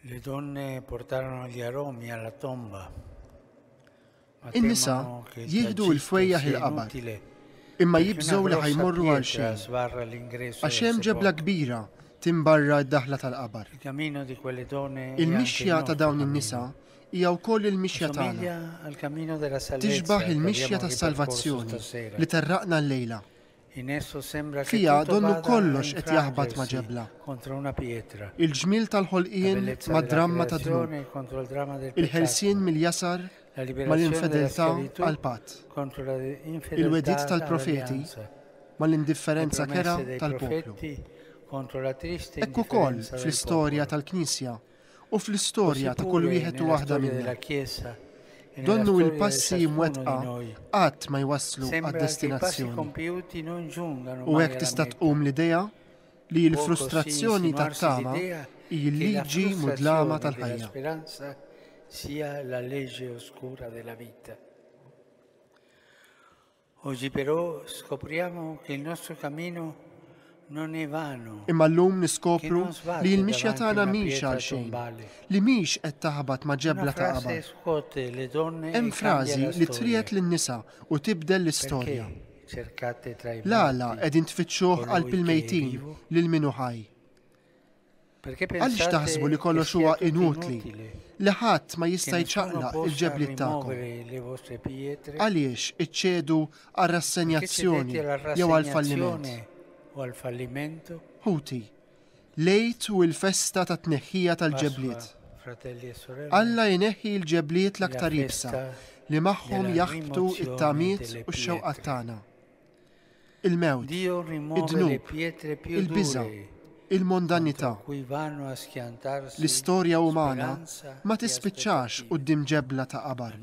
Le donne portarono gli aromi alla tomba. In-nisa jieħdu l-fwejjaħ il-qabad. Imma jibżgħu li ħajmorru għal xejn. Għax hemm ġebla kbira timbarra d-daħla tal-qabar. Il-mixja ta' dawn in-nisa hija wkoll il-mixja tagħna. Tixbah il-mixja tas-salvazzjoni li terraqna llejla. Fiha donnu kollox qed jaħbat ma' ġebla. Il-ġmiel tal-ħolqien mad-dramma tad-dnub. Il-ħelsien mill-jasar mal-infedeltà għall-patt. Il-wegħdiet tal-profeti mal-indifferenza kerha tal-poplu. Hekk ukoll fl-istorja tal-Knisja. u fl-istorja ta' kull wieħed u waħda minna. Donnu il-passi imwettqa qatt ma jwasslu għad-destinazzjoni. U hekk tista' tqum l-idea li l-frustrazzjoni tat-tama hi l-liġi mudlama tal-ħajja. Oggi però scopriamo che il nostro cammino Imma llum niskopru li l-mixja tagħna mhix għal xejn, li mhix qed taħbat ma' ġebla ta' qabad. Hemm frażi li triegħed lin-nisa u tibdel l-istorja. L-għala qegħdin tfittxuh qalb il-mejtin lil min hu ħaj. Għaliex taħsbu li kollox huwa inutli, li ħadd ma jista' jċaqlaq il-ġebliet tagħkom? Għaliex iċċedu għal rassenjazzjoni jew għal falliment? Ħuti, lejt u l-festa ta' tneħħija tal-ġebliet. E Alla jneħħi l-ġebliet l-aktar ibsa li magħhom jaħbtu it-tamiet u x-xewqat tagħna. il-mewt, id-dnub, il-biża', il-mondanità. L-istorja umana ma tispiċċax quddiem ġebla ta' qabar,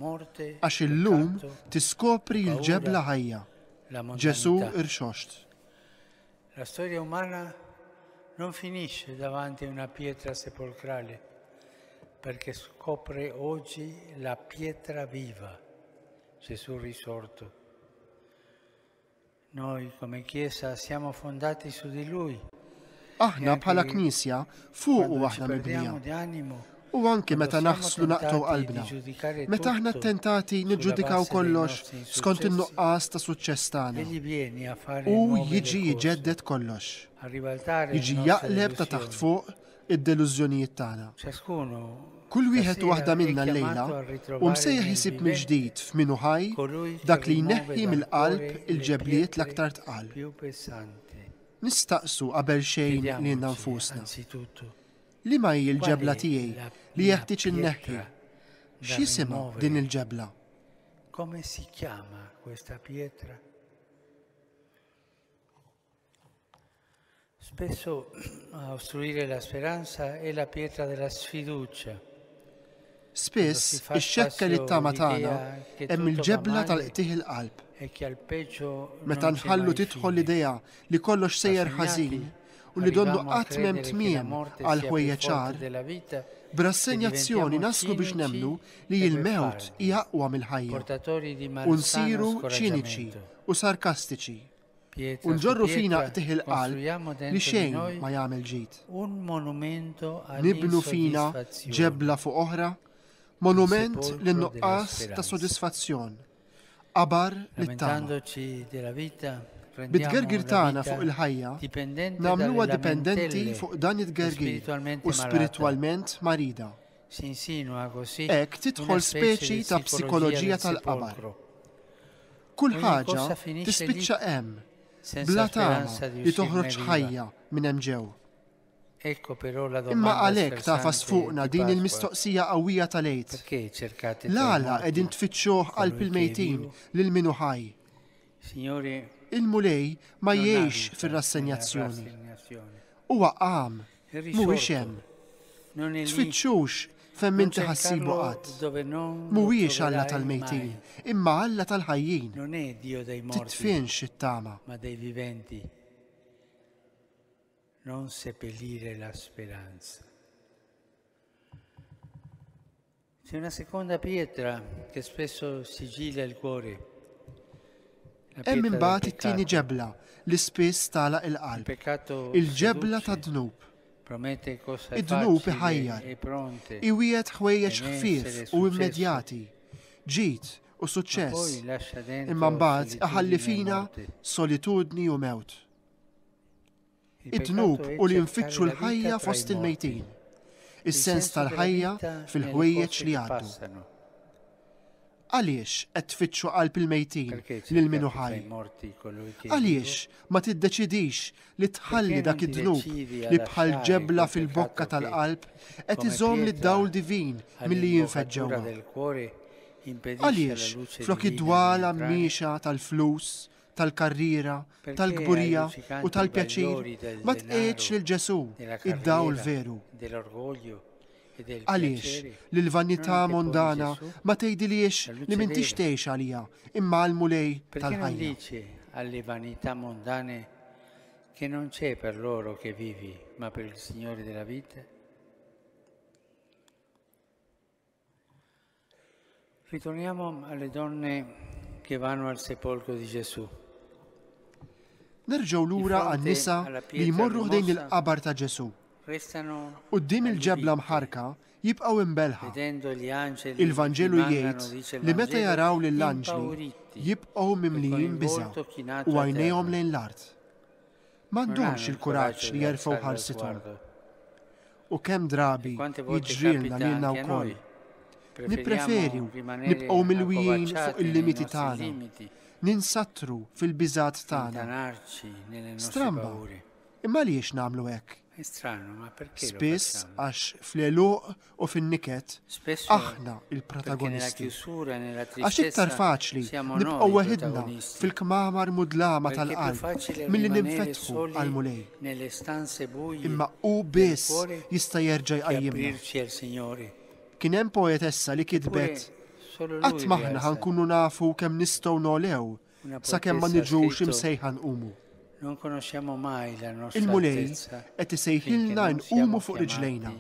għax illum tiskopri l-ġebla ħajja, Ġesù irxoxt. La storia umana non finisce davanti a una pietra sepolcrale, perché scopre oggi la pietra viva, Gesù risorto. Noi come Chiesa siamo fondati su di lui. Aħna e bħala Knisja fuq u aħna mibnija. U anki meta naħslu naqtu qalbna. Meta aħna tentati niġġudikaw kollox skont in-nuqqas ta' suċċess tagħna. U jiġi jġeddet kollox. Jiġi jaqleb ta' taħt fuq id-delużjonijiet tagħna. Kull wieħed u waħda minna llejla hu msejjaħ isib mill-ġdid f'min hu ħaj dak li jneħħi mill-qalb il-ġebliet l-aktar tqal. Nistaqsu qabel xejn lilna nfusna, Liema hi l-ġebla tiegħi li jeħtieġ inneħħi? X'jisimha din il-ġebla? Come si chiama questa pietra? Spesso a ostruire la speranza è la pietra della sfiducia. Spiss ix-xekkel it-tama tagħna hemm il-ġebla tal-qtih il-qalb. Meta nħallu tidħol l-idea li kollox sejjer ħażin u li donnu qatt m'hemm tmiem għal ħwejja ċar, b'rassenjazzjoni naslu biex nemnu li l-mewt hija aqwa mill-ħajja u nsiru ċiniċi u sarkastiċi. u nġorru fina qtih il-qalb li xejn ma jagħmel ġid. Nibnu fina ġebla fuq oħra, monument li nuqqas ta' sodisfazzjon, qabar li tagħna. Bit-gergir tagħna fuq il-ħajja, nagħmluha dipendenti fuq dan it-gergir u spiritwalment marida. Hekk tidħol speċi ta' psikoloġija tal-qabar. Kull ħaġa tispiċċa hemm, bla tama li toħroġ ħajja minn hemm ġew. Imma għalhekk tafas fuqna din il-mistoqsija qawwija tal-għid. L-għala qegħdin tfittxuh qalb il-mejtin lil minu ħaj. Il-Mulej ma jgħix fir-rassenjazzjoni. Huwa qam. Mhuwiex hemm. Tfittxux fejn m'inti ħassibu qatt. Mhuwiex Alla tal-mejtin, imma Alla tal-ħajjin. Titfinx it-tama. Non seppellire la speranza. C'è una seconda pietra che spesso sigilla il cuore. Hemm imbagħad it-tieni ġebla li spiss tagħlaq il-qalb. Il-ġebla tad-dnub. Id-dnub iħajjar. E Iwiegħed ħwejjeġ e ħfief u immedjati. Ġid u suċċess. Imma mbagħad iħalli fina solitudni u mewt. id-dnub u li nfittxu l-ħajja fost il-mejtin, is-sens tal-ħajja fil-ħwejjeġ li jgħaddu. Għaliex qed tfittxu qalb il-mejtin lil minu ħaj? Għaliex ma tiddeċidix li tħalli dak id-dnub li bħal ġebla fil-bokka tal-qalb qed iżomm li dawl divin milli jinfeġġewha? Għaliex flok id-dwala miexa tal-flus, tal-karriera, tal-kburija u tal-pjaċir, ma tqegħidx lil Ġesù, id-dawl veru. E Għaliex li l-vanità mondana ma tgħidiliex li min tixtejx għalija imma għal mulej tal-ħajja. Għalli vanità mondane che non c'è per loro che vivi, ma per il Signore della vita? Ritorniamo alle donne che vanno al sepolcro di Gesù. Nerġgħu lura għan-nisa li jmorru ħdejn il-qabar ta' Ġesù. Qudiem il-ġebla mħarka jibqgħu imbelħa. Il-Vanġelu jgħid li meta jaraw lill-anġli jibqgħu mimlijin biża' u għajnejhom lejn l-art. m'għandhomx il-kuraġġ li jerfgħu ħarsithom. U kemm drabi jiġrilna lilna wkoll. Nippreferu nibqgħu milwijin fuq il-limiti tagħna, ninsattru fil-biżat tagħna. Stramba, imma għaliex nagħmlu hekk? Spiss għax fl-għeluq u fin-niket aħna il-protagonisti. Għax iktar faċli nibqgħu weħidna fil-kmamar mudlama tal-qalb milli ninfetħu għal mulej. Imma hu biss jista' jerġa' jqajjimna. Kien hemm poetessa li kitbet Qatt maħna ħankunu nafu kemm nistgħu nolew sakemm ma niġux imsejħa nqumu. Il-Mulej qed isejħilna nqumu fuq riġlejna,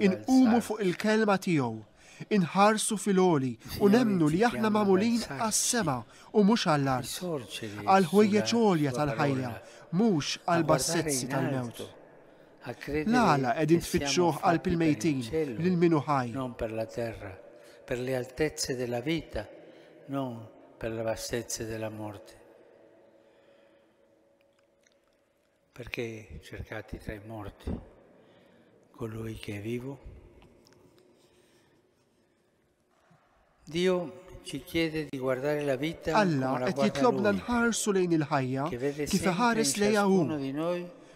inqumu fuq il-kelma tiegħu, inħarsu fil-oli u nemnu li aħna magħmulin għas-sema u mhux għall-art, għal ħwejjeġ għolja tal-ħajja, mhux għal bassezzi tal-mewt. L-għala qegħdin tfittxuh qalb il-mejtin lil min hu ħaj. Non per la terra, per le altezze della vita, non per le bassezze della morte. Perché cercati tra i morti colui che è vivo? Dio ci chiede di guardare la vita Alla qed jitlobna nħarsu lejn il-ħajja kif iħares lejha hu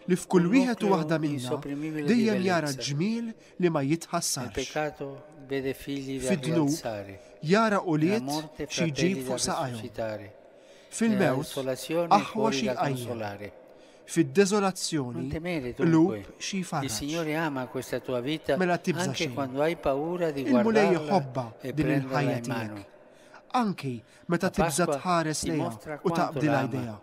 li f'kull wieħed u waħda minna dejjem jara ġmiel li ma jitħassarx. Fid-dnub jara ulied xi jġib fuq saqajhom. Fil-mewt aħwa xi jqajjem. Fid-deżolazzjoni, Non temere dunque. lhub xi Il jfarraġ. Signore ama questa tua vita Mela tibża anche xejn. quando hai paura di Il-Mulej guardarla jħobbha e din prenderla il-ħajja in mano. tiegħek. Anki meta La tibża Pasqua tħares ti lejha mostra u quanto taqbdilha la ama. jdejha.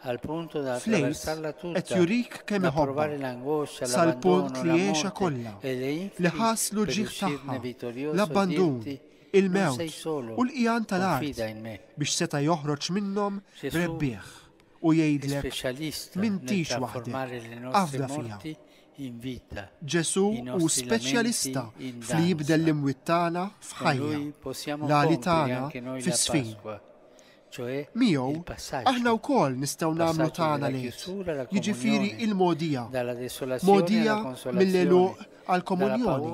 Al punto da Fl-Għid attraversarla qed tutta, jurik kemm da iħobbha provare l'angoscia, sal-punt l'abbandono, li la għexha morte kollha, e le li incubi ħa s-l per uġigħ uscirne tagħha, vittorioso e l-abbandun, dirti, Non sei il-mewt solo, u l-qigħan tal-art confida in me. biex seta' joħroġ minnhom Ġesù rebbieħ. u jgħidlek, M'intix waħdek, afda fija. Ġesù hu speċjalista f'li jibdel l-imwiet tagħna f'ħajja, l-għali tagħna fi sfin. Miegħu, aħna wkoll nistgħu nagħmlu tagħna lejh, jiġifieri il-mogħdija, mogħdija mill-għeluq għall-komunjoni,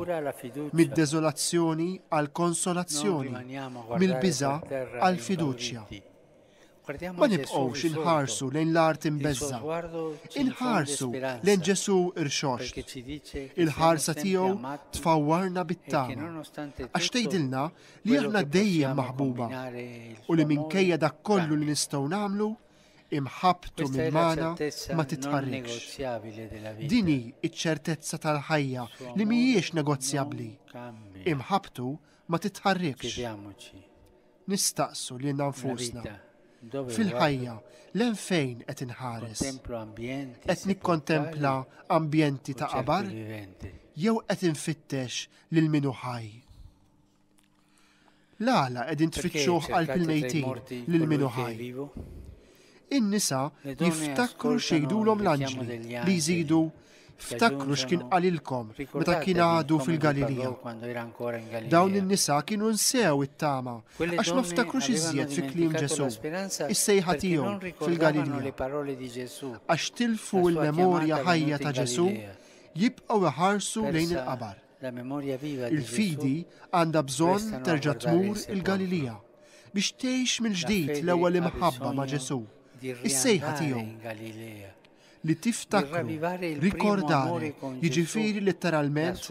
mid-deżolazzjoni għall-konsolazzjoni, mill-biża' għall-fiduċja. Ma nibqgħux inħarsu lejn l-art imbeżża'. Inħarsu lejn Ġesù rxoxt. Il-ħarsa tiegħu tfawwarna bit-tama. Għax tgħidilna li aħna dejjem maħbuba u li minkejja dak kollu li nistgħu nagħmlu, imħabbtu minn magħna ma titħarrikx. Dini iċ-ċertezza tal-ħajja li mhijiex negozjabbli. Imħabbtu ma titħarrikx. nistaqsu lilna nfusna, fil-ħajja, len fejn qed inħares? Qed nikkontempla ambjenti ta' qabar? Jew qed infittex lil min hu ħaj? L-għala qegħdin tfittxuh qalb il-mejtin lil min hu ħaj? In-nisa jiftakru xejdulhom l-anġli li jżidu ftakru x'kien qalilkom meta kien għadu fil-Galilija. Dawn in-nisa kienu nsew it-tama għax ma ftakru iżjed fi kliem Ġesu, is-sejħa tiegħu fil-Galilija. Għax tilfu l-memorja ħajja ta' Ġesu jibqgħu iħarsu lejn il-qabar. Il-fidi għandha bżonn terġa' tmur il-Galilija biex tgħix mill-ġdid l-ewwel imħabba ma' Ġesù, is-sejħa tiegħu li tiftakru, rikordare, jiġifieri letteralment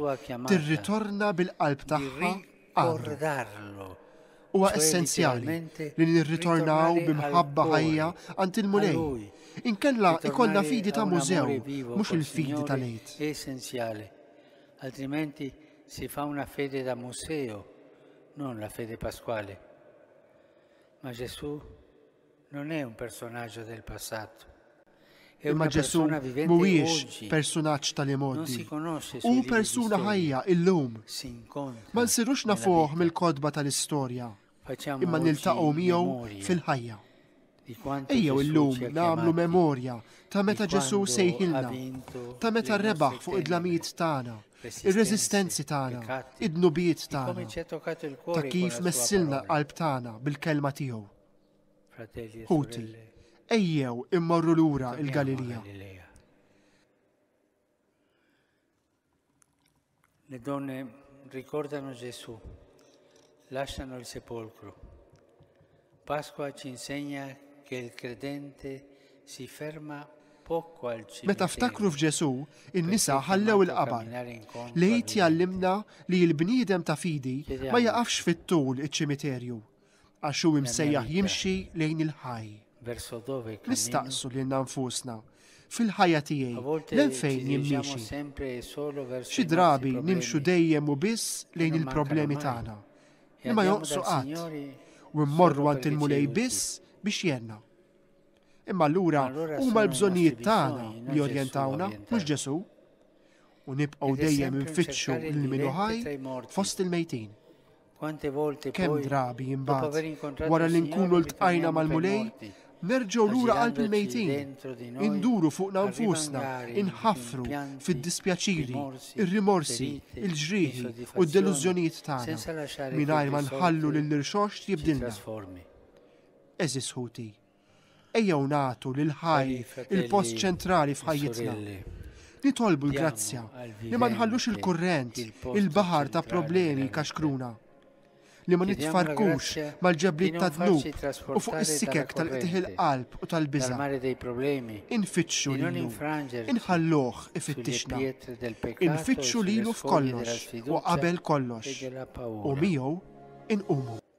tirritorna bil-qalb tagħha għandu. Huwa essenzjali li nirritornaw b'imħabba ħajja għand il-Mulej. Inkella ikollna fidi ta' mużew, mhux il-fidi ta' lejt. Essenzjali. Altrimenti si fa una fede da museo, non la fede pasquale. Ma Gesù Non è un personaggio del passato. Imma Ġesù mhuwiex persunaġġ tal-imgħoddi. Hu persuna ħajja illum. Ma nsirux nafuh mill-kotba tal-istorja, imma niltaqgħu miegħu fil-ħajja. Ejjew illum nagħmlu memorja ta' meta Ġesu sejħilna, ta' meta rebaħ fuq id-dlamijiet tagħna, ir-reżistenzi tagħna, id-nubiet tagħna, ta' kif messilna qalb tagħna bil-kelma tiegħu. Ħuti, ejjew immorru lura il-Galilija. Le donne ricordano Gesù, lasciano il sepolcro. Pasqua ci insegna che il credente si ferma Meta ftakru f'Ġesu, in-nisa ħallew il-qabar. Lejt jallimna li l-bniedem ta' fidi ma jaqafx fit-tul iċ-ċimiterju, għax hu imsejjaħ jimxi lejn il-ħaj. Nistaqsu lil nfusna fil-ħajja tiegħi lejn fejn jimmiexi. Xi drabi nimxu dejjem u biss lejn il-problemi tagħna li ma joqsu qatt u mmorru għand il-mulej biss biex jenna. Imma allura huma l-bżonnijiet tagħna li jorjentawna mhux Ġesu u nibqgħu dejjem infittxu l-minu ħaj fost il-mejtin. Kemm drabi imbagħad, wara li nkunu ltqajna mal-Mulej, nerġgħu lura qalb il-mejtin, induru fuqna nfusna, inħaffru fid-dispjaċiri, ir-rimorsi, il-ġrieħi u d-delużjonijiet tagħna, mingħajr ma nħallu lill-irxoxt jibdilna. Għeżież ħuti, Ejjew nagħtu lil ħaj il-post ċentrali f'ħajjitna. Nitolbu l-grazzja li ma nħallux il-kurrent, il-baħar ta' problemi kaxkruna. Li ma nitfarkux mal-ġebliet ta' dnub u fuq is-sikek tal-qtiħ il-qalb u tal-biża. Infittxu lilu, inħalluh ifittixna. Infittxu lilu f'kollox u qabel kollox. U miegħu inqumu.